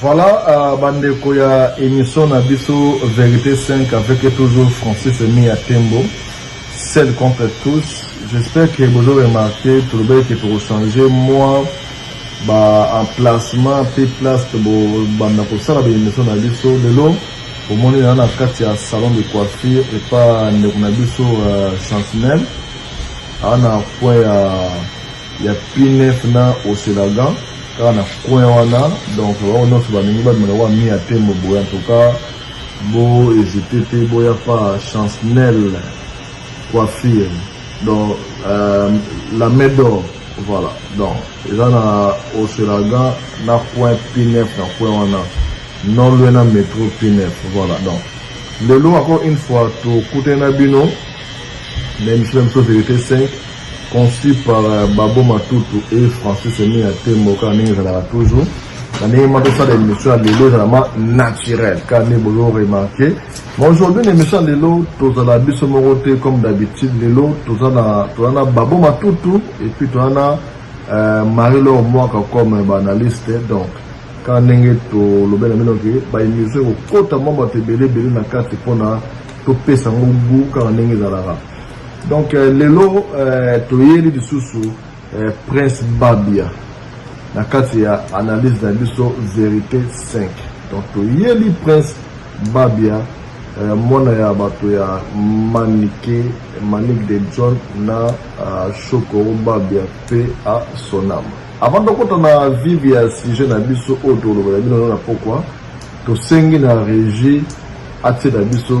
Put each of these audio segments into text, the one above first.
Voilà uh, bandeko ya émission na biso Vérité 5 avec toujours Francis Emi ya Tembo seul contre tous j'espère que bozo remarquer tolobaki ke tokochanger moi ba emplacement mpe place tobanda kosala baemission na biso lelo omoni na na kati ya salon de coiffure epa ndeko na biso uh, chantinelle awa na point ya uh, ya P9 na Oselagan kaka na coin wana donc bango nyonso balingi babima na wa mia tembo boye en tout cas bo hésiter te boya pa chancnel coiffure donc euh, la main d'or voilà donc eza na Oselagan na coin P9 na coin wana non loin na métro P9 voilà donc lelo encore une fois tokutani na bino na émission ya biso verité 5 Conçu par Babo Matutu et Francis Emiya Tembo kaka ndenge ezalaka toujours na ndenge ma tosala émission ya lelo ezala ma naturel kaka nde bozo remarke ma aujourd'hui na émission ya lelo tozala biso moko te comme d'habitude lelo toza na Babo Matutu et puis toza na euh, Marie Laure Mwaka comme baanalyste donc kaka ndenge tolobe na bino ke baémission ekokota mwa bato ebele ebele na kati mpona topesa yango gu kaka ndenge ezalaka Donc euh, lelo euh, toyeli lisusu euh, Prince Babia na kati ya analyse na biso verite 5 donc toyeli Prince Babia euh, mwana ya bato ya Manike Manik de John na euh, Shokoro Babia pe a sonama avant tokota na vive ya sujet na biso oyo tolobela bino na pokwa tosengi na régie atie na biso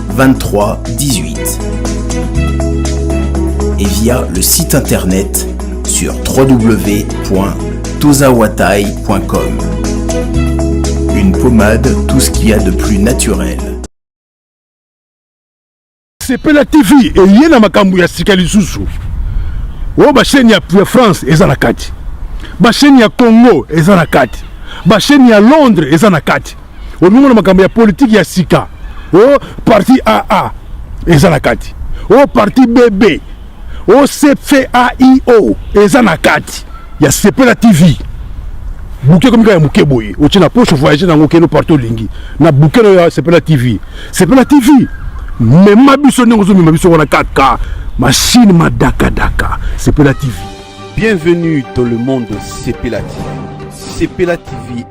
23 18 et via le site internet sur www.tozawatai.com. Une pommade, tout ce qu'il y a de plus naturel. sepela tv eye na makambo ya sika lisusu oyo basheni ya france eza na kati basheni ya congo eza na kati basheni ya londres eza na kati olingo na makambo ya politiki ya sika o oh, parti aa eza na kati o oh, parti bb o oh, cfaio eza na kati ya sepela tv buke ekomi kaka ya moke boye otye na poche voyage nango okende parti olingi na buke nayo ya sepela tv sepela tv mema biso ndenge ozomema biso wana kaka mashine madakadaka sepela tv bienvenue dans le monde sepela tv sepela tv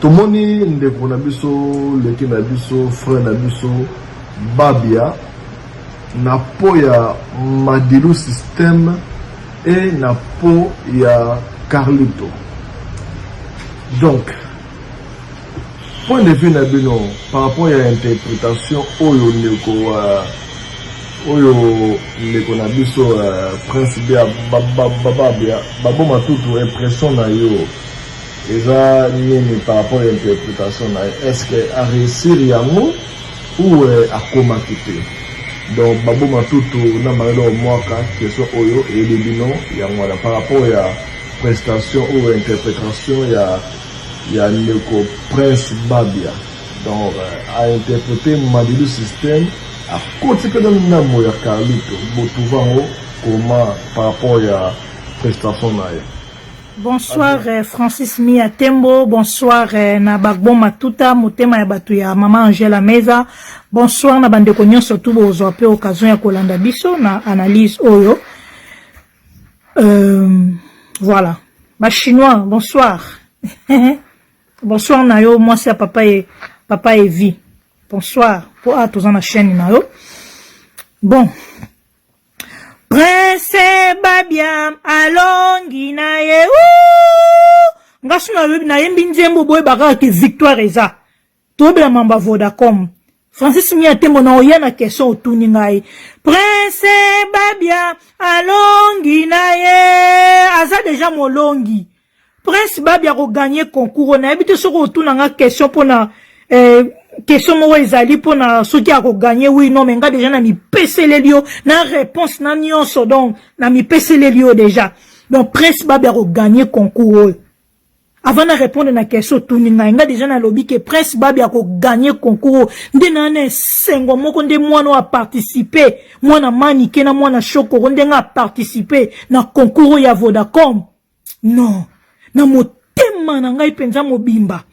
Tomoni ndeko na biso leki na biso frère na biso Babia na po ya Madilu système et na po ya Carlito. Donc point de vue na bino par rapport ya interprétation oyo ndeko wa oyo ndeko na biso uh, prince bia bababia baboma tutu impression na yo Eza nini par rapport ya interpretation na ye? Est-ce que a réussir yango ou euh, akomaki te? Donc baboma tutu na mayele omwaka question oyo eyebi bino yango wana par rapport ya prestation ou interpretation ya ya ndeko Prince Babia donc euh, a interprete Madilu système akoti mpe na ndambo ya Carlito botuva yango koma par rapport ya prestation na ye Bonsoir euh, Francis Mia Tembo, bonsoir euh, na Bagbo Matuta, motema ya bato ya Mama Angela Meza. Bonsoir na bandeko nyonso tu bozwa pe occasion ya kolanda biso na analyse oyo. Euh, voilà. Ba chinois, bonsoir. bonsoir na yo mwasi ya papa e papa Evi. Bonsoir. Po a ah, toza na chaîne na yo. Bon, Prince Babiam alongi na ye nga so nayembi nzembo boyebaka kaka ke victoire eza tobela mamba vodacom francis mia tembo na oya na question otuni ngai prince babia alongi na ye aza deja molongi Prince Babi ako gagner concours na yebi te soki otuna nga question pona eh, question moko ezali pona soki ako gagner oui non mais nga déjà na mipeseleli yo na réponse na nyonso donc na mipeseleli yo déjà donc Prince Babi ako gagner concours oyo avant na répondre na question otuni ngai nga déjà nalobi ke prince babi akoganye concours nde naa na esengo moko nde mwana oyo aparticipe mwana manike na mwana shokoro nde nga aparticipe na concours ya vodacom Non, na motema na ngai penza mobimba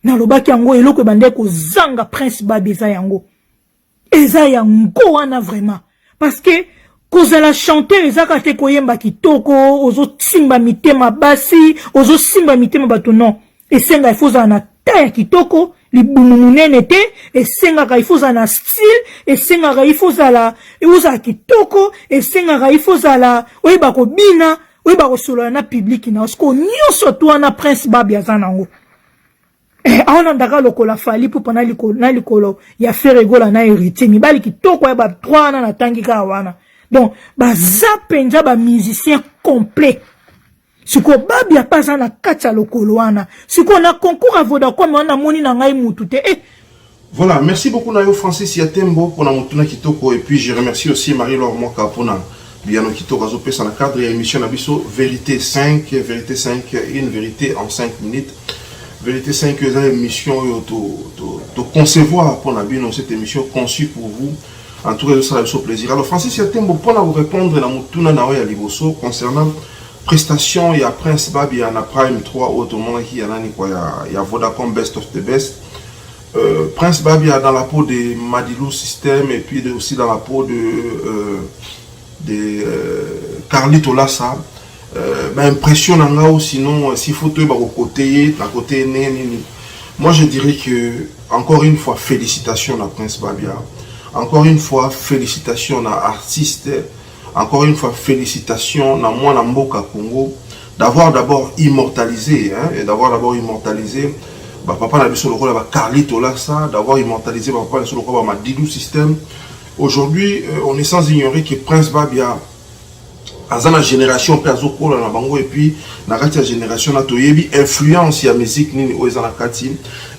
nalobaki yango eloko ebandaki kozanga prince babi eza yango eza yango wana vraiment parce que kozala chanteur ezaka te koyemba kitoko ozosimba mitema basi ozosimba mitema bato non esenga ifo ozala na ta ya kitoko libumu monene te esengaka ifo ozala na style esengaka ifo ozala ozala kitoko esengaka ifo ozala oyeba kobina oyeba kosolola na pibliki na osiko nyonso to wana prince babi aza nango eh, aona ndaka lokola fali pupa na likolo, na likolo ya feregola na heritier mibali kitoko ya batroi wana natangi kaka wana donc baza mpenza bamusicien complet sikoyo babia mpe aza na kati ya lokolo wana sikoyo na concours ya vodacom wana namoni na ngai mutu te eh. voilà merci beaucoup na yo francis ya tembo mpona motuna kitoko et puis je remercie aussi marie lor mwaka mpona biyano kitoko azopesa na cadre ya émission na biso vérité 5 vérité 5 une vérité en 5 minutes vérité 5 eza émission oyo toconcevoir to, to mpona bino cette émission conçue pour vous En tout cas, je sala biso plaisir. Alors Francis Yatembo pona ko répondre na mutuna na ya liboso concernant prestation ya Prince Babia na Prime 3 oyo tomonaki ya nani kwa ya, ya Vodacom Best of the Best. Euh, Prince Babia dans la peau de Madilu System et puis de, aussi dans la peau de euh, de euh, Carlito Lassa. Euh, ba impression na nga ou sinon euh, s'il faut toyeba kokote ye na kote ye ndenge nini moi je dirais que encore une fois félicitations na prince babia encore une fois félicitations na artiste encore une fois félicitations na mwana mboka congo d'avoir d'abord immortalisé hein, et d'avoir d'abord immortalisé bapapa na biso lokola bacarli tolasa d'avoir immortalisé bapapa na biso lokola bamadidou système aujourd'hui euh, on est sans ignorer que prince babia aza na generation pe azo kola na bango et puis na kati ya generation na toyebi influence ya musique nini oyo eza na kati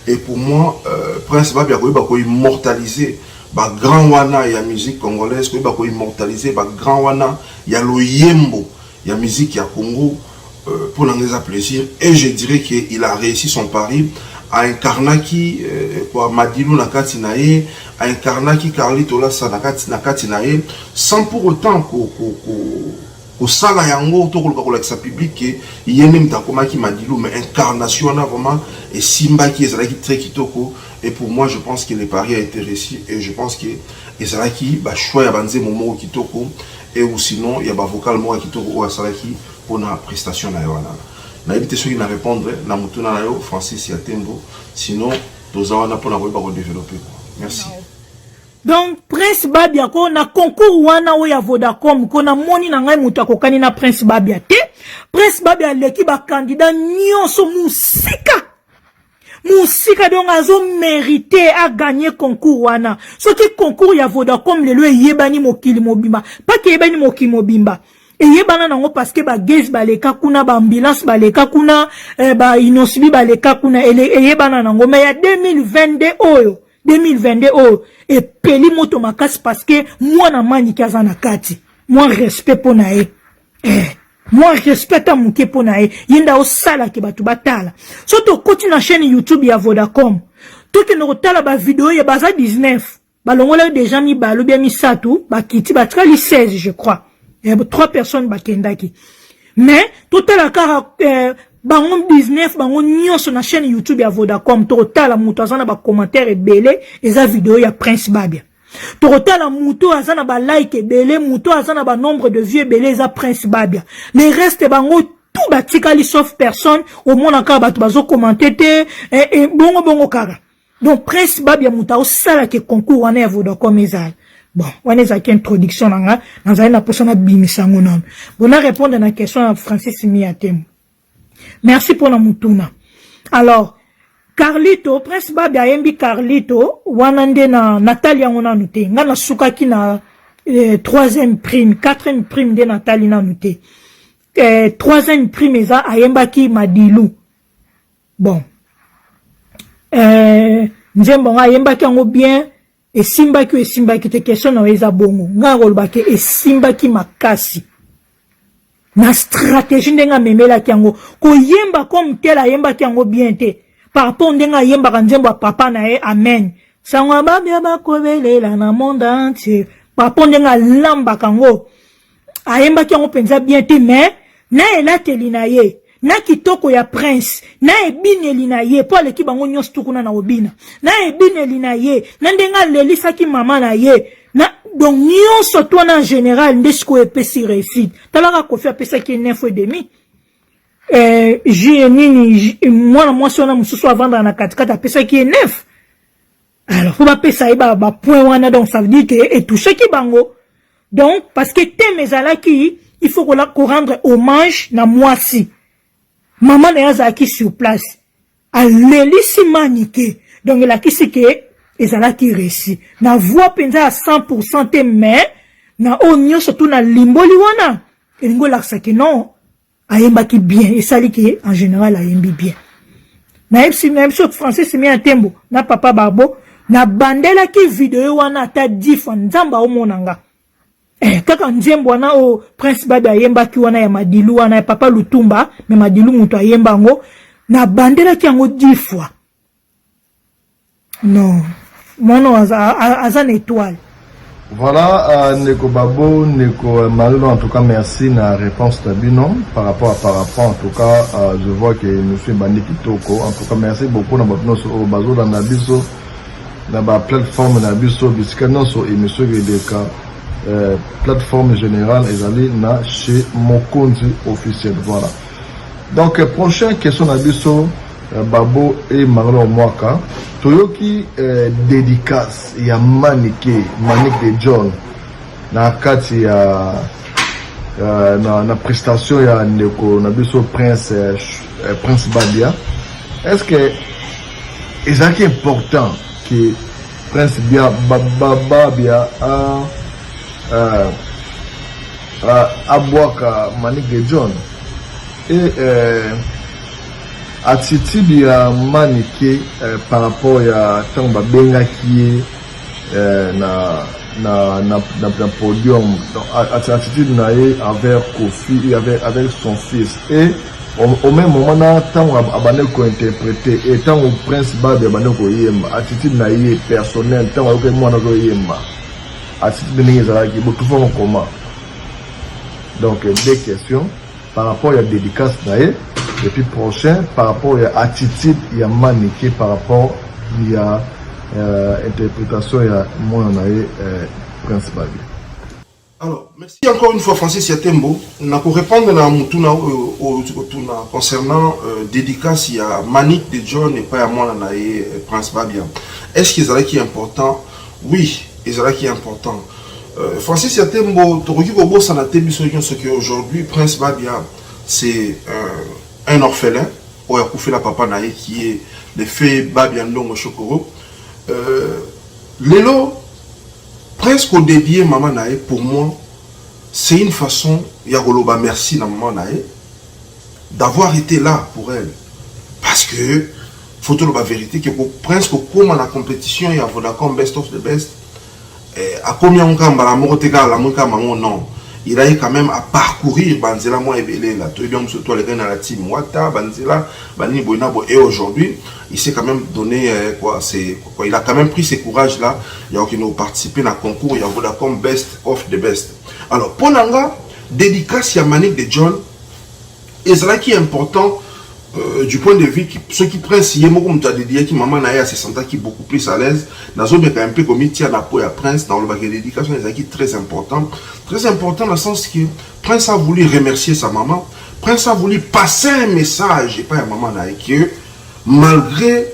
et pour moi euh, prince babi akoyeba ko immortaliser ba grand wana ya musique congolaise koyeba ko immortaliser ba grand wana ya loyembo ya musique ya Congo Euh, pour l'anglais à plaisir et je dirais qu'il a réussi son pari a incarna qui euh, quoi Madilu Nakati Nae a incarna qui Carlito Lassa Nakati Nakati Nae sans pour autant ko ko ko kosala yango to koluka kolakisa public ke ye nde moto akomaki madilu mais incarnation wana vraiment esimbaki ezalaki très kitoko et pour moi je pense que le pari a été réussi et je pense que ezalaki bachoix ya banzembo moko kitoko et ou sinon ya ba vocal moko ya kitoko oyo asalaki pona prestation naye wana nayebi te soki na repondre na motuna na yo Francis ya Tembo sinon toza wana pona koyeba ko developper quoi merci donc prince babia ko na concours wana oyo ya vodacom ko namoni na ngai moto akokani na prince babia te prince babia aleki bakandidat nyonso mosika musika donc azo merite aganye concours wana soki concours ya vodacom lelo eyebani mokili mobimba mpaka eyebani mokili mobimba eyebana nango parceke bagage baleka kuna baambulance baleka kuna eh, bainosibi baleka kuna eyebana nango mai ya 2022 oyo 2022 oyo epeli moto makasi parceke mwana manike aza na kati mwa respect mpo na ye eh. mwa respect ata moke mpo na ye ye nde aosalaki bato batala so tokoti na chaîne youtube ya vodacom tokende kotala bavideo ye baza 19 balongolaki deja mibalo bya misato bakiti batikali 16 je crois eh, trois personnes bakendaki mais totala kaka eh, bango 19 bango nyonso na chaîne youtube ya vodacom tokotala moto aza na bacommentaire ebele eza video ya prince babia tokotala moto aza na balike ebele moto aza na banombre de vie ebele eza prince babia le reste bango tout batikali sauf personne omona kaka bato bazokomante te eh, eh, bongo bongo kaka donc prince babia moto aosalaka concours wana ya vodacom ezala bon wana ezalaki introduction na nga nazali na mposa nabimisa yango nano bona répondre na question ya francis mia temo Merci pona mutuna. Alors, Carlito, Prince Babe ayembi Carlito, wana nde na natali yango nanu te. Nga nasukaki na eh, troisième prime, quatrième prime nde natali nanu te. Eh, troisième prime eza ayembaki Madilu. Bon. Eh, nzembo nga ayembaki yango bien. esimbaki oyo esimbaki te question na yo eza bongo ngai nakoloba ke esimbaki makasi na stratégie ndenge amemelaki yango koyemba comme tel ayembaki yango bien te par rapport ndenge ayembaka nzembo ya papa na ye amen sango ya babia bakobelela na monde entier par rapport ndenge alambaka yango ayembaki yango mpenza bien te mais na elateli na ye na kitoko ya prince na ebineli na ye mpo aleki bango nyonso tu kuna na obina na ebineli na ye na ndenge alelisaki mama na ye na donc nyonso to na general nde sikoyo epesi réussite talaka kofi apesaki ye neuf et demi eh, jie nini mwana mwasi wana mosusu avandaka na katikati apesaki ye neuf alors faut bapesa ye bapoint wana donc ça veut dire ke etouchaki bango donc parce que teme ezalaki il faut korendre hommage na mwasi mama na ye azalaki sur place alelisi manike donc elakisi ke ezalaki resi na voix mpenza ya 100 pourcent te mais na oyo nyonso tu nalimboli wana elingi olakisa ke non ayembaki bien esali ke en general ayembi bien nayebisi nayebisi oyo français simi ya tembo na papa barbo nabandelaki video wana ata difa nzambe aomona nga eh, kaka nzembo wana oyo oh, prince babe ayembaki wana ya madilu wana ya papa lutumba me madilu moto ayemba yango nabandelaki yango difwa Non. Mwana oyo aza, aza na etoile. Voilà, uh, Neko Babo, Neko euh, Marino, en tout cas, merci na réponse Tabino par rapport à Parapent. En tout cas, uh, je vois que monsieur Bandi Kitoko, en tout cas, merci beaucoup na Babino sur Obazo, dans Nabiso, na ba plateforme Nabiso, bisika nonso émission Gedeka, euh, plateforme générale, ezali na chez Mokonzi officiel. Voilà. Donc, prochaine question Nabiso, Babo et Marlon Mwaka toyoki dedicace ya Manike, Manick de John na kati ya na prestation ya ndeko na biso Prince Prince Babia est ce que ezalaki important que Prince Bia Babia a abwaka Manick de John? Et euh, attitude ya Manike euh, par rapport ya tango babengaki ye euh, na na, na, na, na podium donc attitude na ye envers Kofi et avec, avec son fils et au même moment na ntango abandaki kointerprete e ntango prince babe abandaki koyemba attitude na ye personnel ntango ayokaki mwana azoyemba attitude ndenge ezalaki botufa mokoma donc deux questions par rapport ya dedicace na ye et puis prochain par rapport ya attitude ya Manike par rapport ya euh, interpretation ya mwana na ye euh, Prince Babi. Alors, merci encore une fois Francis Yatembo. Na ko répondre na mutuna oyo euh, otuna concernant euh, dédicace ya Manik de John et pas ya mwana na ye euh, Prince Babia. Est-ce qu'ils allaient qui important? Oui, ezalaki important euh, Francis ya Tembo tokoki kobosana te biso nyonso ke aujourd'hui Prince Babia c'est euh, un orphelin oyo akufela papa na ye qui est le fait Babia Ndongo Shokoro euh, lelo Prince kodedie mama na ye pour moi c'est une façon ya koloba merci na mama na ye d'avoir été là pour elle parce que faut toloba verité ke prince kokoma na compétition ya vodacom best of the best eh, akomi yango kaka mbala moko te kaka alamwi kaka mango non il a eu quand même à parcourir banzela mwa ebele na toyebi yango mosusu to alekaki na la team wata banzela banini boye na boye et aujourd'hui il s'est quand même donné eh, quoi c'est quoi il a quand même pris ses courage là ya kokende koparticiper na concours ya vodacom best of the best alors mpo na nga dédicace ya manique de john ezalaki important Euh, du point de vue soki prince ye moko moto adediyaki mama na ye asesentaki beaucoup plus à l'aise nazomeka mpe komitia na po ya prince naolobaka dédication ezalaki très important très important na sens que prince a voulu remercier sa maman prince a voulu passer un message epai ya mama na ye que malgré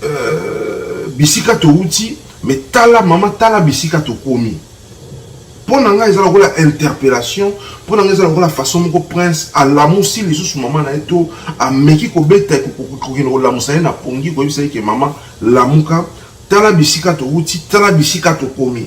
Euh, bisika towuti me tala mama tala bisika tokomi mpo na ngai eza lokola interpellation mpo na ngai eza lokola façon moko prince alamusi lisusu mama na ye to ameki kobeta kokende kolamusa ye na pongi koyebisa ye ke mama lamuka tala bisika towuti tala bisika tokomi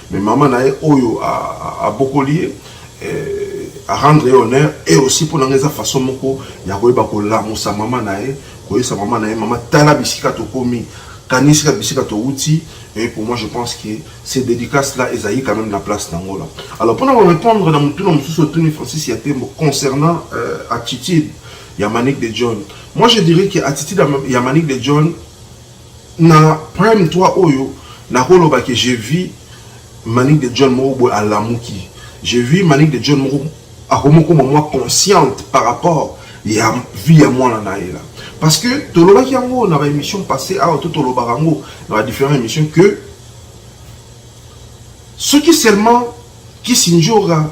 Mais maman na ye oyo abokoli ye eh, a rendre ye honneur et aussi mpo na nga eza façon moko ya koyeba kolamusa mama na ye koyesa mama na ye mama tala bisika tokomi kanisika bisika towuti et pour moi je pense que ces dédicaces là ezali quand même na place nango là alors mpona korépondre na motuna mosusu otuni francis ya tembo concernant euh, attitude ya manique de john moi je dirais que attitude ya manique de john Na prime toi oyo nako loba ke je vis manick de John moko boye alamuki je vis manick de John moko akomi koma mwa consciente par rapport ya vie ya mwana na ye la parce que tolobaki yango na ba emission passe awa to tolobaka yango na ba different emission que soki seulement Kissindjora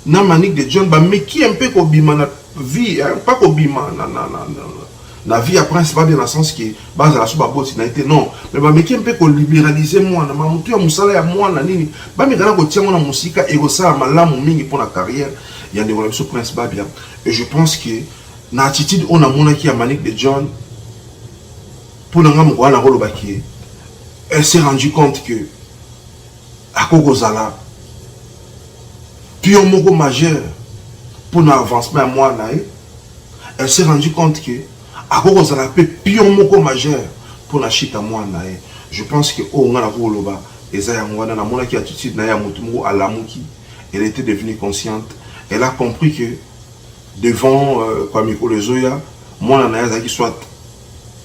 na Manick de John ba meki un peu ko bima na vie hein, pas ko bima na na na na na vie ya prince babia na sens que bazala so baboti na ye te non mais bameki mpe koliberalize mwana ma motu ya mosala ya mwana nini bameka na kotia yango na mosika ekosala malamu mingi mpo na carrière ya ndeko na biso prince babia et je pense que na attitude oyo namonaki ya manique de john mpo na ngai mokolo wana nakolobaki elle s'est rendu compte que akoki kozala pion moko majeur mpo na avancement ya mwana na ye elle s'est rendu compte que akoki kozala mpe pion moko majeur mpo na chute ya mwana na ye je pense que oyo ngai nakoki koloba eza yango wana namonaki attitude na ye ya motu moko alamuki elle était devenue consciente elle a compris que devant euh, kwa mikolo ezoya mwana na ye azalaki soit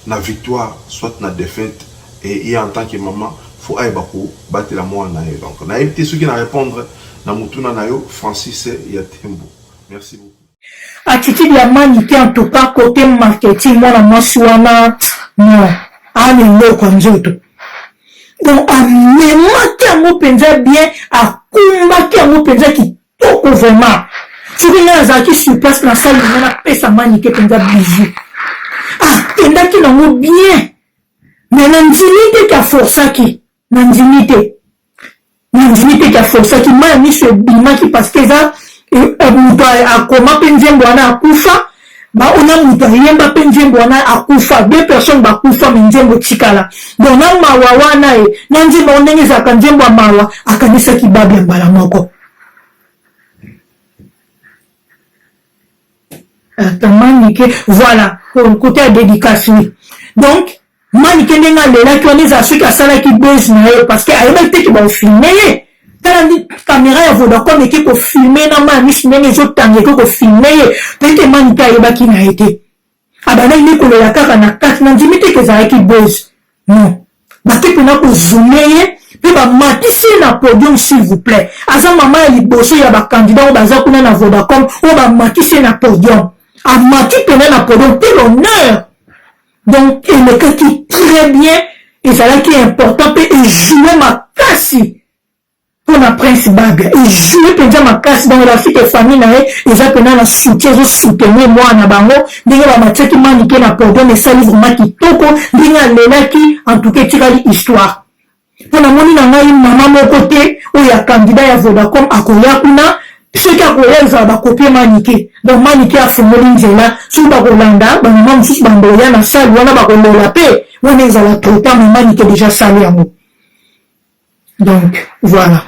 na victoire soit na defaite et ye en tant que maman faut ayeba ko batela mwana na ye donc nayebi te soki na repondre na motuna na yo Francis ya Tembo merci beaucoup attitude ya mani te en tout cas cote marketing mwana mwasi wana non ana eloko ya nzoto donc amemaki yango mpenza bien akumbaki yango mpenza toko vraiment soki ngai nazalaki sur place na sali nga napesa manike mpenza bizu akendaki ah, nango bien me nandimi te ke aforsaki nandimi te nandimi te ke aforsaki mai ya miso ebimaki parce que eza eh, eh, moto akoma mpe nzembo wana akufa bango na moto ayemba mpe nzembo wana akufa deux personnes bakufa me nzembo tikala donc na mawa wana ye na nzembo yango ndenge ezalaka nzembo ya mawa akanisaki babi ya mbala moko atamanike voilà kote ya dedicace oui donc Manike ndenge alelaki wana ezala soki asalaki buzz na ye parce que ayebaki te ke baofilme ye tala ndi kamera ya vodacom eke kofilme na mai misu ndenge ezotanga eke kofilme ye toyebi te manike ayebaki na ye te abandaki nde kolela kaka na kati na ndimi te ke ezalaki buzz non bake mpena kozume ye mpe bamatisi ye na podium s'il vous plaît aza mama ya liboso ya bakandidat oyo baza kuna na vodacom oyo bamatisi ye na podium amati mpena na podium te l'honneur donc elekaki très bien ezalaki important mpe ejoue makasi mpo na prince baga ejoue mpenza makasi bango bafike famille na ye eza mpena na soutien ezosoutenir mwana na bango ndenge bamatiaki manike na podium esali vraimen kitoko ndenge alelaki en tout cas etikali histoire mpo namoni na ngai mama moko te oyo ya kandida ya vodacom akoya kuna soki akoya ezala bakopie manike donc manike afungoli nzela soki bakolanda bamama mosusu bandoya na sale wana bakolela mpe wana ezala traitant me manike deja sale yango donc voilà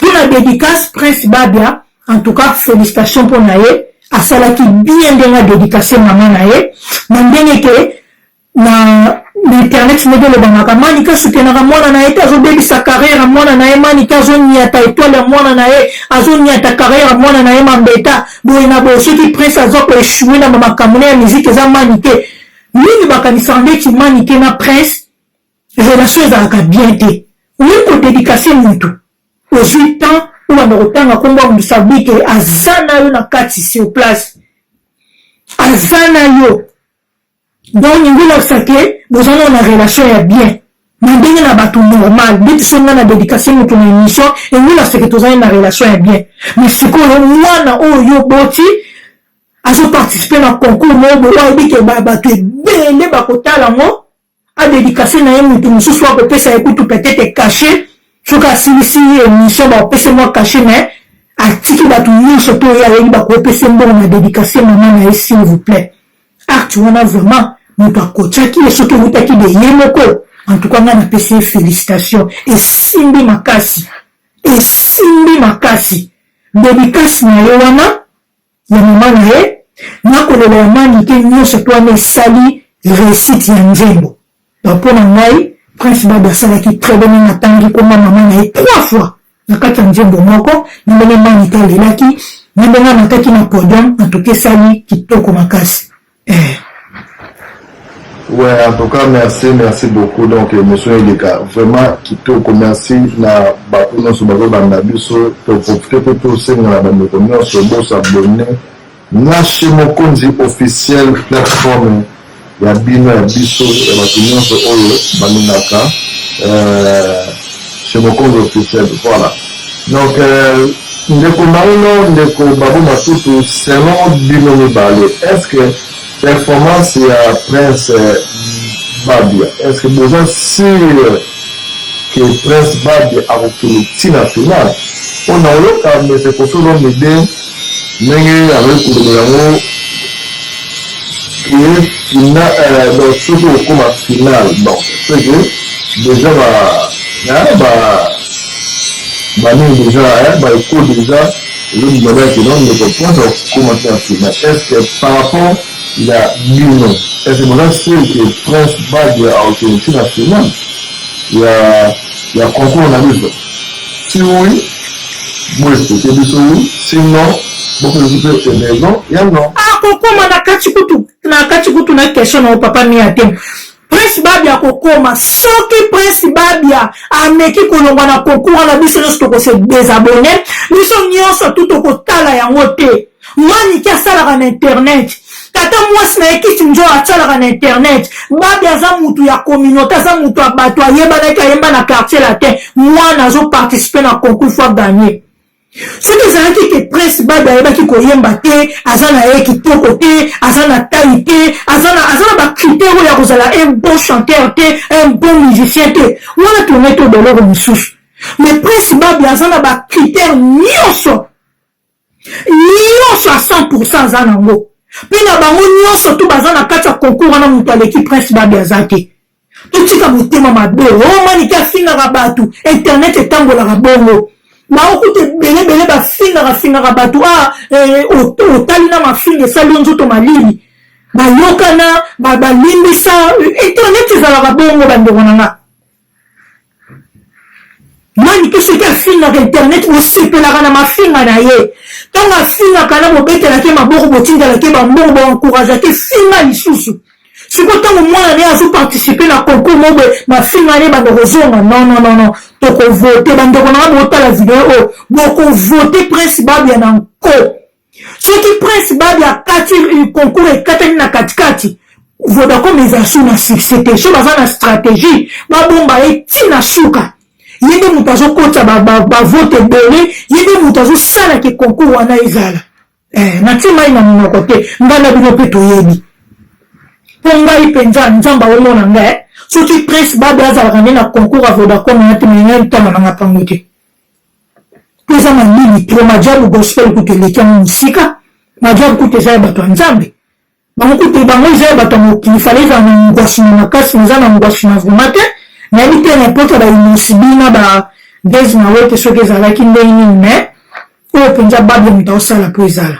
mpo na dédicace prince babia en tout cas félicitation mpo na ye asalaki bien ndenge adedikase mama na ye na ndenge ke na na internet ndenge olobamaka manika asutenaka mwana na ye te azobebisa carrière ya mwana na ye manika azoniata etoile ya mwana na ye azoniata carrière ya mwana na ye mambeta boye na boye soki prince aza koechoue na bamakambo na ya miziki eza manike mingi bakanisaka ndeti manike na prince relation ezalaka bien te oye kodedikase motu ozwi temps obanda kotanga nkombo ya moto sabike aza na yo na kati sur place aza na yo Donc lingi olakisa ke boza nao na relation ya bien na ndenge na batu normal ndeti soki nga na dedicace mutu na emission elingi olakisa ke tozali na relation ya bien mais sikoyo mwana oyo yo oboti azo participer na concours moko boye ayebi ke bato ebele bakotala ngo adedikace na ye moto mosusu akopesa ye kutu petete kashe soki asilisi ye emission bakopesa mwa kashe mais atiki bato nyonso to ye ayebi bakopesa mbongo na dedikace mama na ye s'il vous plaît Acte wana vraiment moto akotiaki ye soki ewutaki de ye moko en tout cas ngai napesi ye félicitation esimbi makasi esimbi makasi dedikasi na ye wana ya mama na ye nakolela ya manike nyonso to wana esali resite ya nzembo Ba po na ngai prince babe asalaki très bien meme atangi komba maman na ye trois fois na kati ya nzembo moko na ndenge manike alelaki na ndenge amataki na podium en tout cas esali kitoko makasi eh. Ouais, en tout cas, merci, merci beaucoup. Donc, émission Eleka, vraiment, kitoko, merci na bato nyonso bazobanda biso, topofite mpe tosenga na bandeko nyonso bosabone Nashi mokonzi officiel plateforme ya bino ya biso ya batu nionso oyo balingaka chez mokonzi officiel voila donc ndeko maino ndeko babu matutu selon bino mibale est ce que Performance ya prince babia est ce que boza sur que prince babia akokende ti na finale mpo na oyoka maitre kofi olomide ndenge azali koloba yango ke fina euh, donc soki okoma finale donc ce que déjà ba ba banini déjà ba eko déjà Elodie Diabel que non ndeko mpo na kokoma te na Afrima est ce que par rapport ya bino est ce que boza sur que Prince Bad akokende ti na Afrima ya ya concours na biso si oui boexplike biso oui si non bopesi mpe raison ya non akokoma na kati kutu na kati kutu na question na yo papa mia te Prince Babia akokoma soki Prince Babia ameki kolongwa na concours wana biso nyonso tokose desabonne biso nyonso tu tokotala yango te maniki asalaka na internet tata mwasi na ye kisi njo asalaka na internet babi aza mutu ya communauté aza mutu ya bato ayebanaki ayemba na quartier latin mwana azoparticipe na concours fo aganye soki ezalaki ke prince babi ayebaki koyemba te aza na ye kitoko te aza na tai te aza na bacritère oyo ya kozala un bon chanteur te un bon musicien te wana tourne to boloko mosusu mais prince babi aza na bacritère nyonso nyonso a 100 pourcent aza nango mpe na bango nyonso to baza na kati ya concours wana moto aleki prince babi aza te totika motema mabe oyo manike afingaka bato internet etambolaka bongo baokuta ebele ebele bafingaka fingaka bato a ah, eh, otali na mafinga esali yo nzoto malili bayokana balimbisa internet ezalaka bongo bandeko na nga manike soki afingaka internet bosepelaka na mafinga na ye ntango afingaka na bobetelaki ye maboko botindelaki ye bambongo boencouragaki ye finga lisusu sikoyo ntango mwana ne azoparticipe na concours mobe mafinga ne banda kozonga nonnonono tokovote bandeko na nga botala video oyo bokovote prince babia na nko soki prince babi akati euh, concours ekatani na katikati vodacom eza su na succès te so baza na stratégie babomba ye ti na suka ye nde moto azokotisa bavote ebele ye nde moto azosala ke concours wana ezala eh, natie mai na monoko te ngai na bino mpe toyebi mpo ngai mpenza nzambe aomona ngai eh. soki prince babi azalaka nde na concours ya vodacom ya te mengai ntana nanga mpango te Eza malili trop majabu gospel kutu eleki yango musika majabu kutu eza ya bato ya nzambe bango kutu bango eza ya bato ya mokili fale ezala na ngwasi na makasi eza na ngwasi na vrema te nayebi te na mpota baimosi bina ba des mawe te soki ezalaki ndenge nini mais oyo mpenza babia moto aosala mpo ezala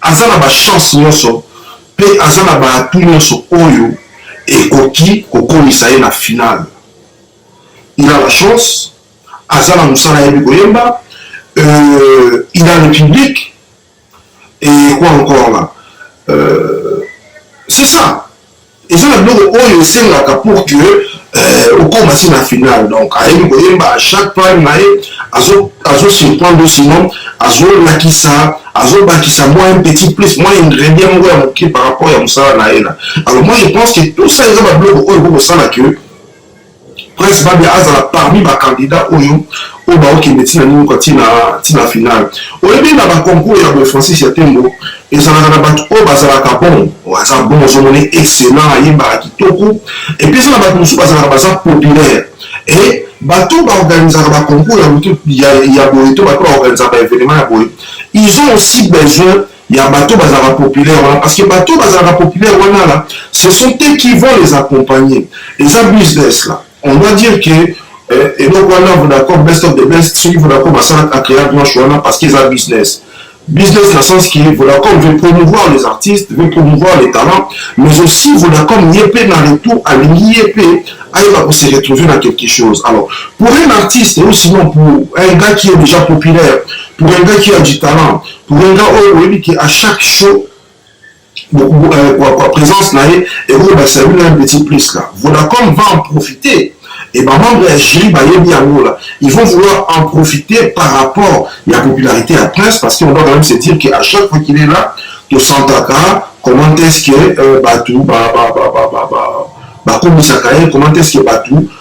Aza na ba chances nionso mpe aza na ba atouts nionso oyo ekoki kokomisa ye na finale. Il a la chance, aza na mosala ayebi koyemba, euh, il a le public et quoi encore là euh, c'est ça eza na biloko oyo esengaka pour que euh, okoma si na finale donc ayebi koyemba à chaque pale na ye azosurprendre sinon azolakisa azobakisa mwa un petit plus mwa ingrédient moko ya moke par rapport ya mosala na ye na alors moi je pense que tout ça eza babiloko oyo kokosala que prince babi azala parmi bacandidat oyo oyo baokende ntina nini kwa ntina finale oyebi na baconcours ya boye francis ya tembo ezalaka na bato oyo bazalaka bon aza bon ozomoni esena ayembaka kitoko epuis eza na bato mosusu bazalaka baza populaire e bato baorganisaka baconcours ya boye to bato baorganisaka baevenement ya boye ils ont aussi besoin ya bato bazalaka populaire wana parce que bato bazalaka populaire wana la ce sont eux qui vont les accompagner eza business là on doit dire que eh, eloko wana vodacom best of the best soki vodacom asalaka acrea blanche wana parce que eza business business na sens que vodacom veut promouvoir les artistes veut promouvoir les talents mais aussi vodacom ye mpe na retour alingi ye mpe ayeba ko se retrouver na quelque chose alors pour un artiste ou sinon pour un gars qui est déjà populaire pour un gars qui a du talent Ngenga oyo oyebi ke à chaque show kwa présence na ye ekobakisa bino un petit plus là vodacom va en profiter et bamembre ya jury bayebi yango la ils vont vouloir en profiter par rapport ya popularité ya prince parce qu'on doit quand même se dire que à chaque fois qu'il est là tosantaka comment est ce que euh, bato bakomisaka ye comment est ce que bato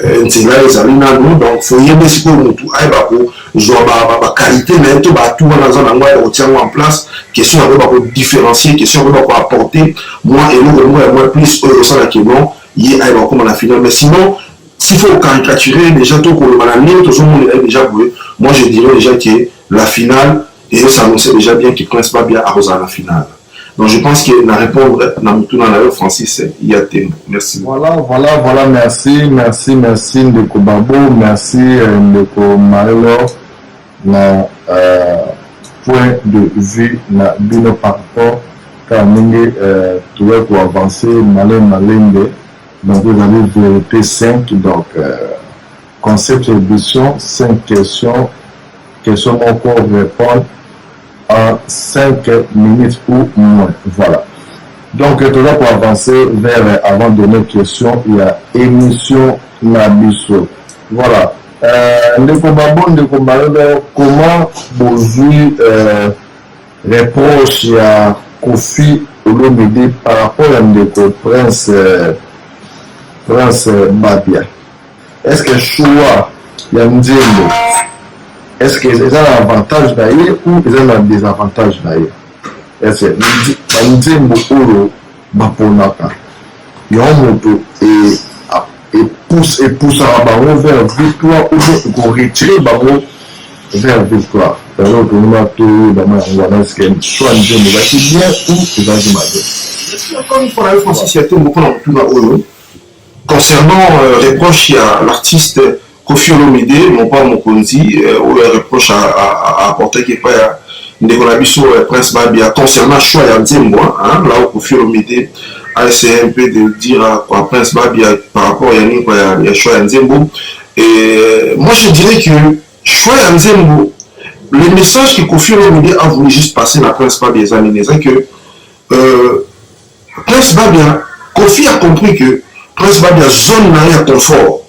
Eh, nzela ezali nanu donc foyebe sikoyo motu ayeba kozwa baqualité na ye to baatu wana aza na yango ayeba kotia yango en place question ya koyeba kodifferencie question ya koyeba koapporte mwa eloko moko ya mwa plus oyo osala kino ye ayeba kokoma na final mais sinon s'il faut caricaturer déjà to koloba na ndenge tozomonela ye déjà boye moi je dirais déjà que la finale Et ça annonçait déjà bien que Prince Babia a Rosa à la finale. Donc je pense que na répondre na mutuna na yo Francis il y a tembo. Merci. Voilà, voilà, voilà, merci, merci, merci ndeko Babo, merci euh, ndeko Maelor na euh, point de vue na bino par rapport kaka ndenge euh, toya ko avancer malin malembe donc ezali vérité simple donc euh, Concept ya ebition cinq question question moko repond en cinq minutes ou moin voila donc toza ko avance vers avant dernière question ya emission na biso voila euh, ndeko babo ndeko mayodo comment bozui euh, reproche ya kofi olomide par rapport ya ndeko prince euh, prince babia Est-ce que choix ya nzembo est ce que eza na avantage na ye ou eza na désavantage na ye ese banzembo oyo baponaka yango moto epusaka bango vers victoire ou bien ekoretire bango vers victoire yango tolima toyebama yango wana eske soi nzembo ezalaki bien ou ezalaki mabe Concernant reproche ya l'artiste Koffi Olomide, Mopao Mokonzi, oyo ya reproche a apportaki epai ya ndeko na biso Prince Babia concernant choix ya nzembo là où Koffi Olomide a essaye un peu de dire à quoi Prince Babia par rapport ya nini quoi ya choix ya nzembo et moi je dirais que choix ya nzembo le message que Koffi Olomide a voulu juste passer na Prince Babia eza nini eza que euh, Prince Babia, Koffi a compris que Prince Babia zone na ye ya confort,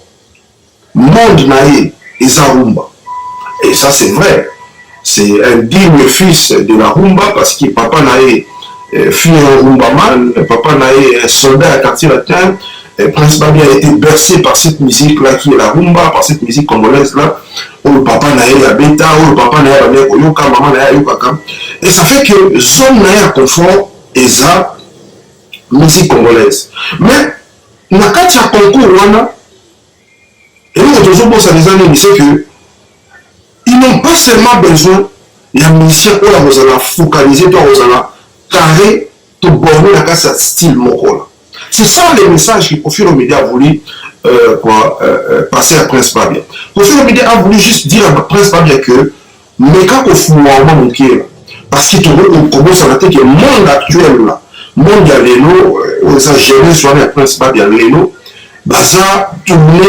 monde na ye eza rumba. Et ça c'est vrai. C'est un digne fils de la rumba parce que papa na ye euh, fut un rumbaman, papa na ye un soldat à quartier latin. Et Prince Babia a été bercé par cette musique là qui est la rumba, par cette musique congolaise là. oyo papa na ye ya beta oyo papa na ye abandaki koyoka mama na ye ayokaka et ça fait que zone na ye ya confort eza musique congolaise mais na kati ya concours wana eloko tozobosana eza nini c'est que ils n'ont pas seulement besoin ya musicien oyo akozala focalise to akozala carré to borne na kati ya style moko C'est ça le message que Kofi Olomide a voulu euh, quoi, euh, euh, passer à Prince Babia. Kofi Olomide a voulu juste dire à Prince Babia que meka kofungwa oma moke la parce que tokoki kobosana te ke monde actuel la monde ya lelo euh, oyo eza jeunesse wana ya Prince Babia lelo baza tourne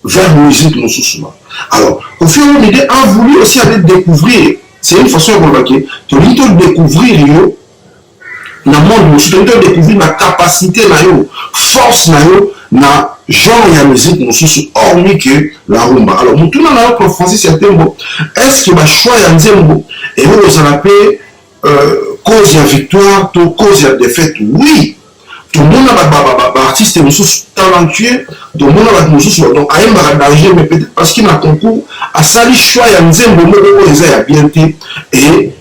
vers musique mosusu ba alors Kofi Olomide a voulu aussi aller découvrir c'est une façon ya koloba ke tolingi todécouvrir yo na monde mosusu toki to découvrir ba capacité na yo force na yo na genre ya musique mosusu hormis que la rumba alors motuna na yo pro francis ya tembo est ce que bachoix ya nzembo eko kozala mpe euh, cause ya victoire to cause ya défaite oui tomona baartiste mosusu talentueux tomona bato mosusu donc ayembaka danger mais peut-être parce que na concours asali choix ya nzembo moko oyo eza ya bien te et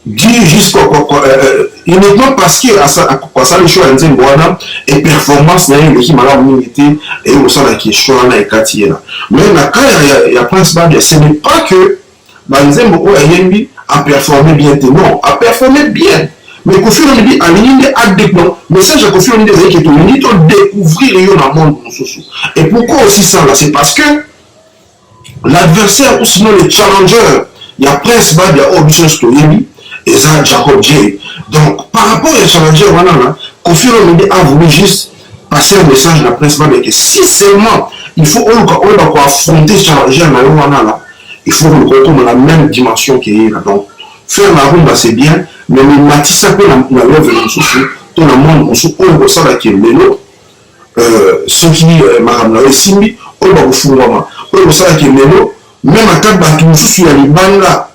dire jusqu'à euh, uniquement parce que asali show ya nzembo wana e performance na ye eleki malamu mingi te eye kosalaki show wana ekati ye na mais na cas ya, ya prince babia ce n'est pas que banzembo oyo ayembi aperforme bien te non aperforme bien mais kofi olomidi alingi nde adeplo message ya kofi olomidi ezalaki ete olingi todécouvrir yo na monde mosusu et pourquoi osisala c'est parce que L'adversaire ou sinon le challenger ya Prince Babia oyo biso nyonso toyebi eza Jacob J. Donc par rapport ya challenger wana na Koffi Olomide a voulu juste passer un message na Prince Babia que si seulement il faut oluka oyeba ko affronter challenger na yo wana na il faut oluka okoma na même dimension que ye na donc faire la rumba c'est bien mais mimatisa mpe na love na mosusu to na monde mosusu oyo kosala ke lelo euh, soki euh, makambo na yo esimbi oyo bakofungwama oyo kosala ke lelo meme ata bato mosusu ya libanda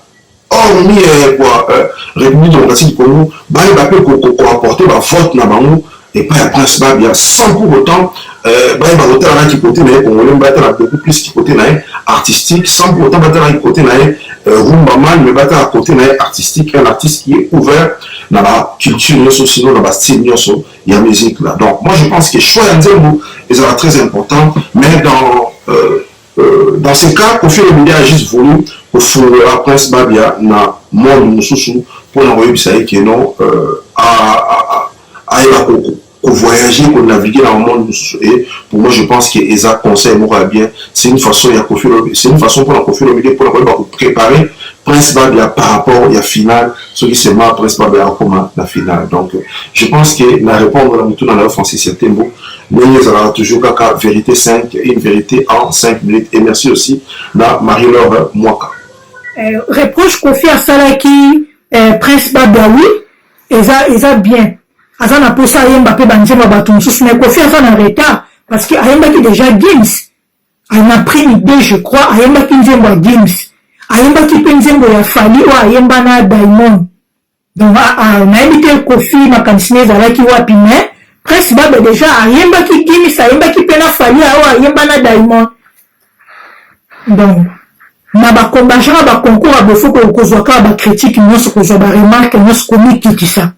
hormis euh, kwa euh, république démocratique du congo bayeba mpe koapporte bavote na bango epai ya prince babia sans pour autant euh, bayeba kotala na kikote na ye congolais batala beaucoup plus kikote na ye artistique sans pour autant batala kikote na ye euh, rumbaman mais batala kote na ye artistique un artiste qui est ouvert na baculture nyonso sino na bastyle nyonso ya musique là donc moi je pense que choix ya nzembo ezala très important mais dans euh, euh, dans ce cas kofi olomide a juste voulu kofungola prince babia na monde mosusu mpo na koyebisa ye ke non euh, ayeba kovoyage konavigue na monde mosusu e pour moi je pense que eza conseil moko ya bien c'est une façon ya kofi c'est une façon mpo na kofi olomide mpo na koyeba koprépare prince babia par rapport ya finale soki seulement après ce mabe akoma na finale donc je pense que na répondre na mutuna na yo Francis ya Tembo ndenge ezalaka toujours kaka vérité 5 une vérité en 5 minutes et merci aussi na Marie-Laure Mwaka euh, reproche Kofi asalaki euh, Prince Babia oui eza eza bien aza na posa ayemba pe banzemba bato mosusu mais Kofi aza na retard parce que ayembaki déjà Gims en april 2 je crois ayembaki nzembo ya Gims ayembaki mpe nzembo ya Fally oyo ayemba na Diamond donc ah, ah, nayebi te Koffi makanisi na ezalaki wapi mais Prince Babe deja ayembaki Gims ayembaki mpe na Fally oyo ayemba na Diamond donc na bakombajaka baconcours ya bofoko okozwa kaka bacritique nyonso kozwa baremarke nyonso komikitisa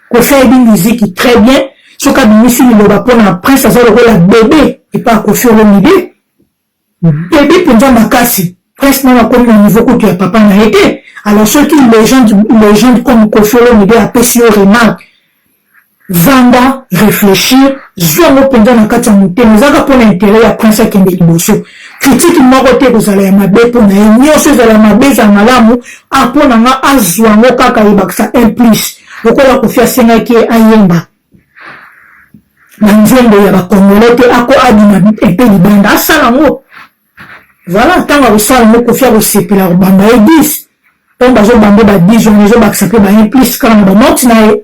kofi ayebi miziki très bien soki abimisi liloba mpona prince aza lokola bebe epa kofi olomide bebe mpenza makasi prince nano akomi na niveau kutu ya papa na ye te alors soki legende legende comme kofi olomide apesi yo remarque vanda réfléchir zwa yango mpenza na kati ya motema ezalaka mpona intérêt ya prince akende liboso Critique moko te ekozala ya mabe po na ye, nioso ezala ya mabe ezala malamu a po na nga azua yango kaka ebakisa un plus lokola Koffi asengaki ye ayemba ba nzembo ya ba congolais te ako abima epe libanda asala yango voilà ntango akosala yango Koffi akosepela kobamba ye 10 ntango bazobamba ba 10 wana ezobakisa mpe ba un plus kaka na ba note na ye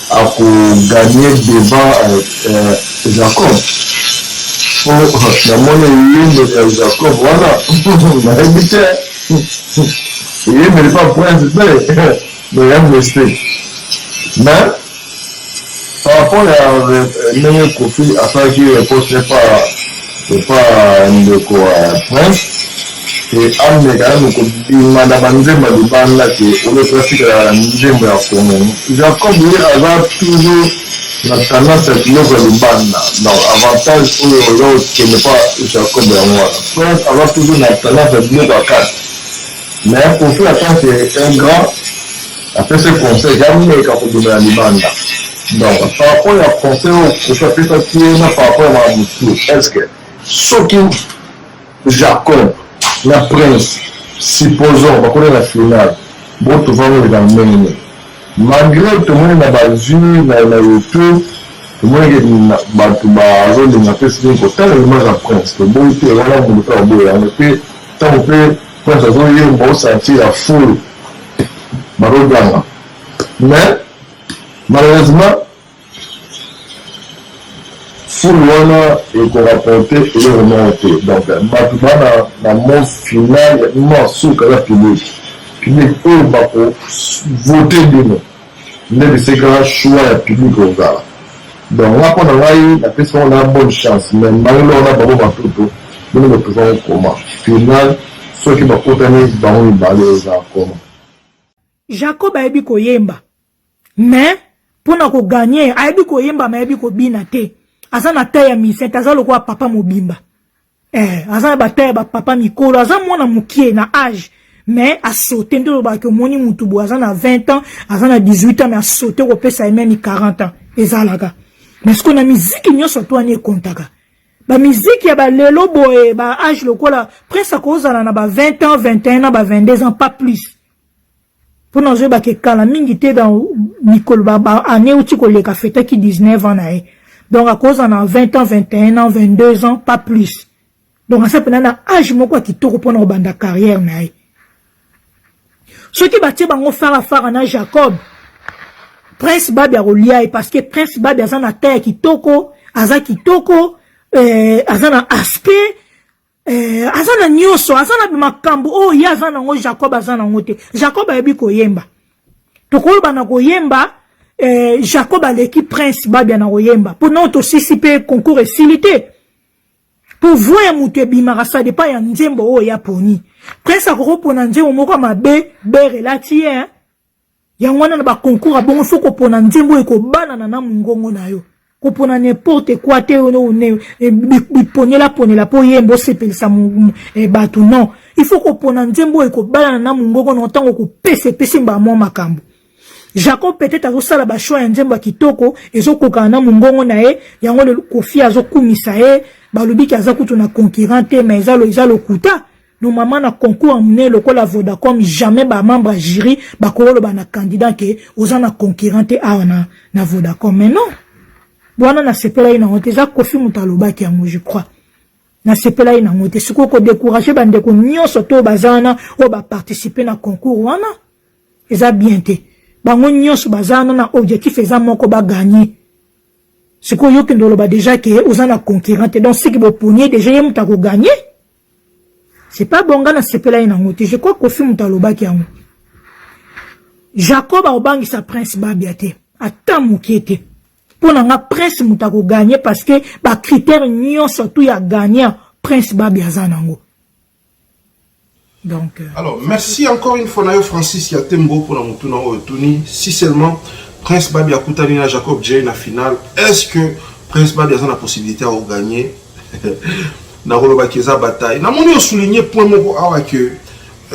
Ako gagne devant Jacob po na moni eyembeli ya Jacob wana nayebi te eyembeli pa prince te mais ya mese mais par rapport ya ndenge Koffi asalaki reproche epa epa ndeko prince ke ameka nanu kobima na banzembo ya libanda ke oyo toatikala na nzembo ya congo jacob ye aza toujours na tendance ya biloko ya libanda donc avantage oyo oza kokende pa jacob yango wana prince aza toujours na tendance ya biloko ya kati Mais Koffi en tant que un grand apesi conseil ya meka kobimela libanda donc par rapport ya conseil oyo Koffi apesaki ye na par rapport ya makambo mosusu est ce que soki Jacob na Prince supposons bakoli na finale botovani oleka na ndenge nini malgré tomoni na bavue na youtube tomoneke bato bazolinga mpe soki kotala image ya prince toboyi te wana moto mpe baboyi yango mpe ntango mpe Prince azo yemba o sentir ya foule bazo ganga mais malheureusement foule wana eko rapporter eloko moko te donc bato bana na mot final ya mwa suka ya public public oyo bako voter bino Nde bisika choix ya public ekozala donc nga pona ngai na pesi bango na bonne chance mais mbala eloko na babo matoto bino bo trouva ngo comment final soki ba kutani bango mibale eza comment. Jacob ayebi koyemba mais pona ko gagner ayebi koyemba mais ayebi kobina te aza na taille ya musicien te aza lokola papa mobimba. eh, aza na bataya bapapa mikolo aza mwana mokie na age mais asote nde olobaka ke omoni motu boye aza na 20 ans aza na 18 ans mais asote kopesa ye meme 40 ans ezalaka mais sikoyo na miziki nyonso to wana ekontaka bamiziki ya balelo boye ba age lokola prince akozala na ba 20 ans 21 ans ba 22 ans pas plus Mpo nazoyebake kala mingi te dans mikolo ba ba année euti koleka afetaki 19 ans na ye donc akozala na 20 ans 21 ans 22 ans pas plus donc aza mpena na age moko ya kitoko mpo na kobanda carrière na ye soki batie bango fara fara na jacob prince babi akolia ye parce que prince babi aza na ta ya kitoko aza kitoko eh, aza na aspect Eh, aza na nyonso aza na makambo oyo oh, ye aza nango jacob aza nango te jacob ayebi koyemba tokoyeba na koyemba eh, jacob aleki prince babia na koyemba mpo nao tosisi mpe concours esili te mpo voi ya moto ebimaka sa depa ya nzembo oyo oh, yaponi prince akokopona nzembo moko ya mabe bere elati ye eh? Yango wana na ba concours ya bongo soki opona nzembo oyo ekobanana na mongongo na yo kopona n'importe quoi te eh, biponelaponela mpo oyemba osepelisa eh, bato non il faut kopona nzembo oyo ekobalana na mongongo na ntango okopesa epesi mbala mwa makambo jacob peut-être azosala bachoix ya nzembo ya kitoko ezokokana na mongongo na ye yango kofi azokumisa ye balobiki aza kutu na concurrent te ma eza lokuta No mama na concours ya mune lokola Vodacom jamais ba membre ya jury bakoloba na candidat ke oza na concurrent te awa na, na Vodacom mais non wana nasepelaki nango te eza kofi moto alobaki yango je crois nasepelaki nango te sikoyo kodecourage bandeko nyonso to baza wana oyo baparticipe na concours wana eza bien te bango nyonso baza wana na objectif eza moko baganye sikoyo yokende oloba deja ke oza na concurrent te donc siki boponi ye deja ye moto akoganye C'est pas bon nga na sepelani nango te. Je crois Kofi moto alobaki yango. Jacob akobangisa prince Babia te. Ata mokie te. Mpo na nga prince moto akoganye parce que ba critères nyonso tout ya gagnant prince Babia aza nango. Donc, euh, alors merci encore une fois nayo Francis ya tembo mpo na motuna oyo tuni si seulement prince Babia akutani na Jacob J na finale est-ce que prince Babia aza na possibilité ya koganye nakoloba ke eza bataille namoni osouligne point moko awa ke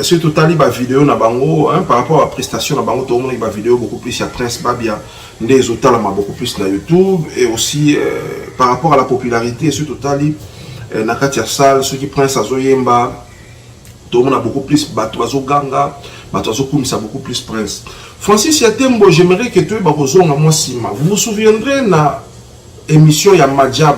soki totali bavideo na bango hein, par rapport ya prestation na bango tokomonaki bavideo beaucoup plus ya prince babia nde ezotalama beaucoup plus na youtube et aussi euh, par rapport à la popularité soki totali euh, na kati ya salle soki prince azoyemba tokomona beaucoup plus bato bazoganga bato bazokumisa beaucoup plus prince francis ya tembo j'aimerais ke toyeba kozonga mwa nsima vous vous souviendrez na émission ya majab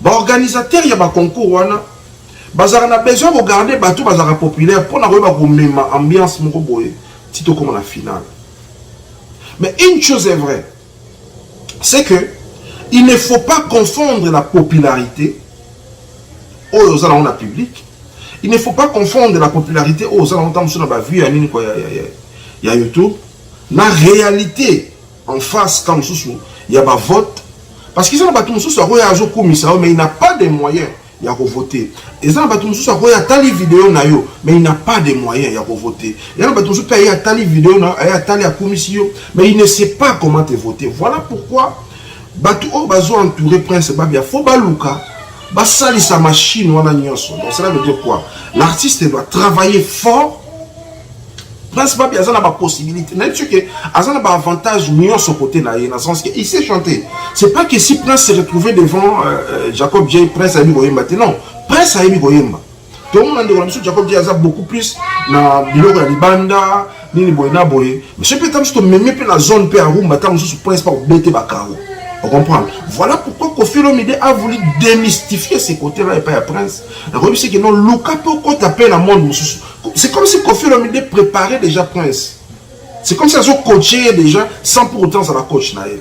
Ba organisateurs ya ba concours wana bazalaka na besoin ko garder bato bazalaka populaire mpo na koyeba komema ambiance moko boye ti tokoma na finale mais une chose est vraie c'est que il ne faut pas confondre la popularité oyo oza nango na public il ne faut pas confondre la popularité oyo oza nango ntango mosusu na bavue ya nini kwa ya, ya, ya, ya youtube na réalité en face ka mosusu ya ba vote parce que eza na bato mosusu akoya azokumisa yo mais il n'a pas de moyen ya kovote eza na bato mosusu akoya atali video na yo mais il n'a pas de moyen ya kovote eza na bato mosusu mpe aye atali video na aye atali akumisi yo mais il ne sait pas comment te voter voilà pourquoi bato oyo bazo entoure prince babia fo baluka basalisa machine wana nyonso donc cela veut dire quoi l'artiste doit travailler fort Prince Papi aza na ba possibilités. Nayebi ce que aza na ba avantages nyonso côté na ye na sens que il sait chanter. C'est pas que si Prince se retrouvait devant euh, euh Jacob J Prince ayebi koyemba te non. Prince ayebi koyemba. tomona ndeko na biso jacob di aza beaucoup plus na biloko ya libanda nini boye na boye monsieur mpe ta mosusu tomemi mpe na zone mpe arumba ta mosusu prince mpa kobete bakaro ocomprendre voilà pourquoi kofi olomide a voulu démystifier ce côté là epai ya prince akoyebisi ke non luka mpe okota mpe na monde mosusu C'est comme si Kofi Olomide préparait déjà Prince. C'est comme si azo coacher déjà sans pour autant la coach na là.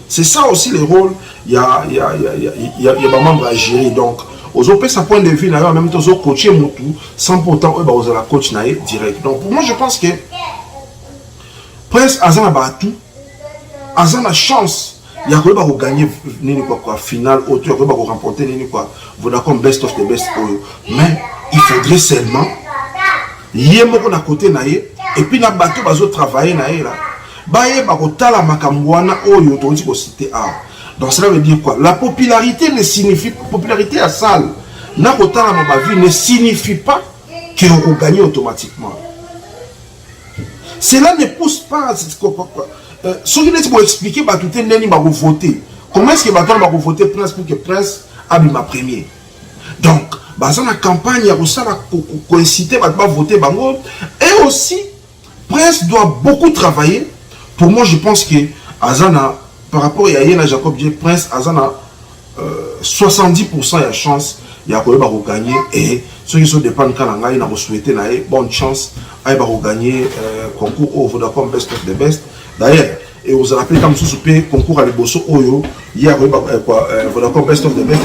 C'est ça aussi le rôle il y a il y a il y a il y a, y a ba membres à gérer donc ozo pesa point de vue na yo en même temps ozo coacher mutu sans pour autant oyo bakozala coach na ye direct donc pour moi je pense que prince aza na baatu aza na chance ya koyeba ko gagner nini kwa kwa finale oyo to ya koyeba ko remporter nini kwa Vodacom best of the best oyo mais il faudrait seulement ye moko na kote na ye epuis na bato bazotravaille na ye la bayeba kotala makambo wana oyo tokoki kosite awa donc cela veut dire quoi la popularité ne signifie popularité ya sale na kotalama bavie ne signifie pas ke okoganye automatiquement cela ne pousse pas euh, soki neti boexplike bato te ndeni bakovote comment est-ce que bato wana bakovote prince pour que prince abima premier donc baza na campagne ya kosala koincite bato bavote bango et aussi prince doit beaucoup travailler pour moi je pense que aza na par rapport ya ye na jacob j prince aza na 70 pourcent ya chance ya koyeba ko gagner et soki ezo dépendre ka na ngai na ko souhaiter na ye bonne chance ayeba ko gagner euh, concours oyo Vodacom best of the best d'ailleurs et aux aura pris comme sous pe concours à liboso oyo hier oui bah quoi voilà comme best of the best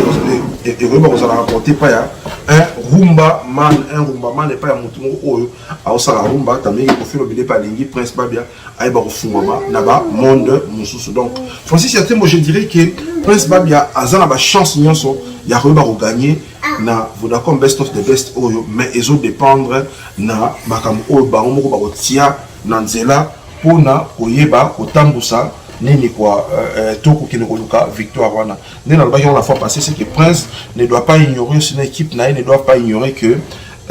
et et oui bah vous allez rapporter pas ya un rumba man un rumba man et pas ya mutumo oyo à osala rumba tamiki kofiro bile pas lingi prince babia ayeba kofungwama na ba monde mosusu donc francis ya tembo je dirais que prince babia aza na bachance nyonso ya koyeba kogagne na vodacom best of the best oyo mais ezo dépendre na makambo oyo bango moko bakotia na nzela mpona koyeba kotambusa nini kwa euh, euh, to kokende koluka victoire wana nde nalobaki yango la fois passé c'est que prince ne doit pas ignorer sina équipe na ye ne doit pas ignorer que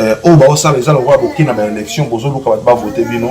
euh, oyo baosala eza lokola bokei na baélection bozoluka bato bavote bino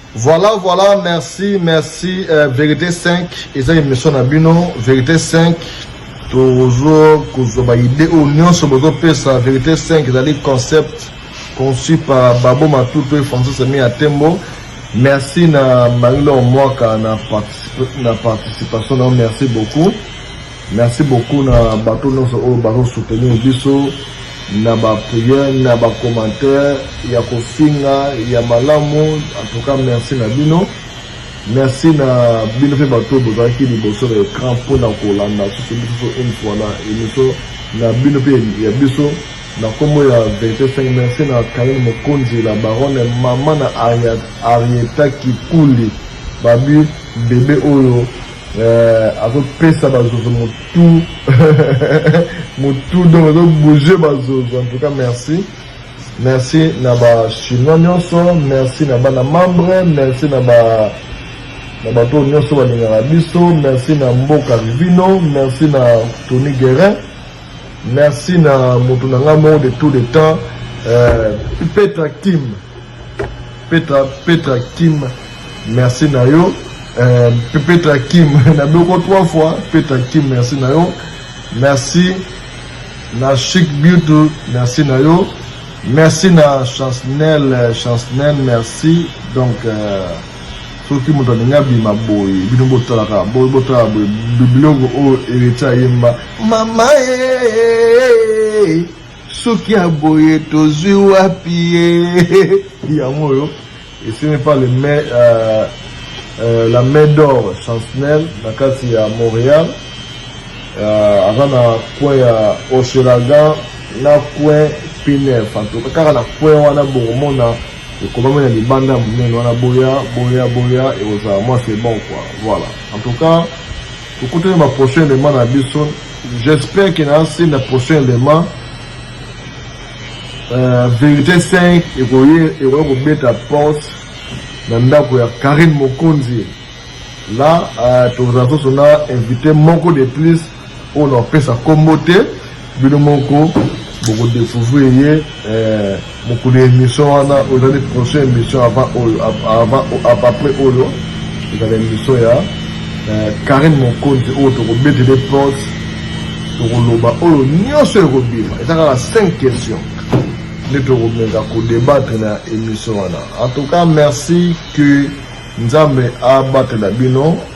Voilà voilà merci merci euh, verite 5 eza emission na bino verite 5 tozo kozwa ba idée oyo nyonso bozopesa verite 5 ezali concept conçu par babo matutu et francis ami ya tembo merci na marie lor mwaka na, particip na participation na yo merci beaucoup Merci beaucoup na bato nyonso oyo bazo soutenir biso na ba prière na ba commentaire ya kofinga ya malamu en tout cas merci na bino merci na bino mpe bato oyo bozalaki liboso na écran mpo na kolanda susu biso une fois na émission na bino mpe ya biso na nkombo ya verité 5 merci na karine mokonzi la baronne mama na arieta kikuli babi bebe oyo Eh, azopesa bazozo motu motu donc azobouge bazozo en tout cas merci merci na bachinois nyonso merci na bana membre merci na ba na bato oyo nyonso balingaka biso merci na mboka vivino merci na tony guerin merci na moto na ngai moko de tout le temps euh, petra kim Petra Petra Kim merci na yo euh, Petra Kim na boko trois fois Petra Kim merci na yo merci na Chic Beauty merci na yo merci na Chancnel euh, Chancnel merci donc euh, soki moto alingi abima boye bino botalaka boye botalaka boye biloko oyo ereti ayemba mama ye eh, eh, eh, Soki ya boye tozui wapi ye yango oyo esimi pa le mai euh, euh, la mai d'or chancnel na kati ya montréal euh, aza na coin ya ochelagan na coin pinef antuka kaka na coin wana bokomona ekomami na libanda ya monene wana boya boya boya ekozala mwa c'est bon quoi voilà en tout cas Tokutani ba prochain element na biso. J'espère que na si na prochain element euh, verite 5 ekoye ekoya kobeta porte na ndako ya Karine Mokonzi. Là euh, tozala soso na invité moko de plus oyo na opesa kombo te. Bino moko boko decouvrir ye eh, mokolo ya emission wana ozali prochain emission avant oyo avant après oyo ezala emission ya eh, Karine Mokonzi oyo tokobetele porte tokoloba oyo nyonso ekobima eza kaka 5 questions nde tokomenga kodebattre na emission wana en tout cas merci que nzambe abatela bino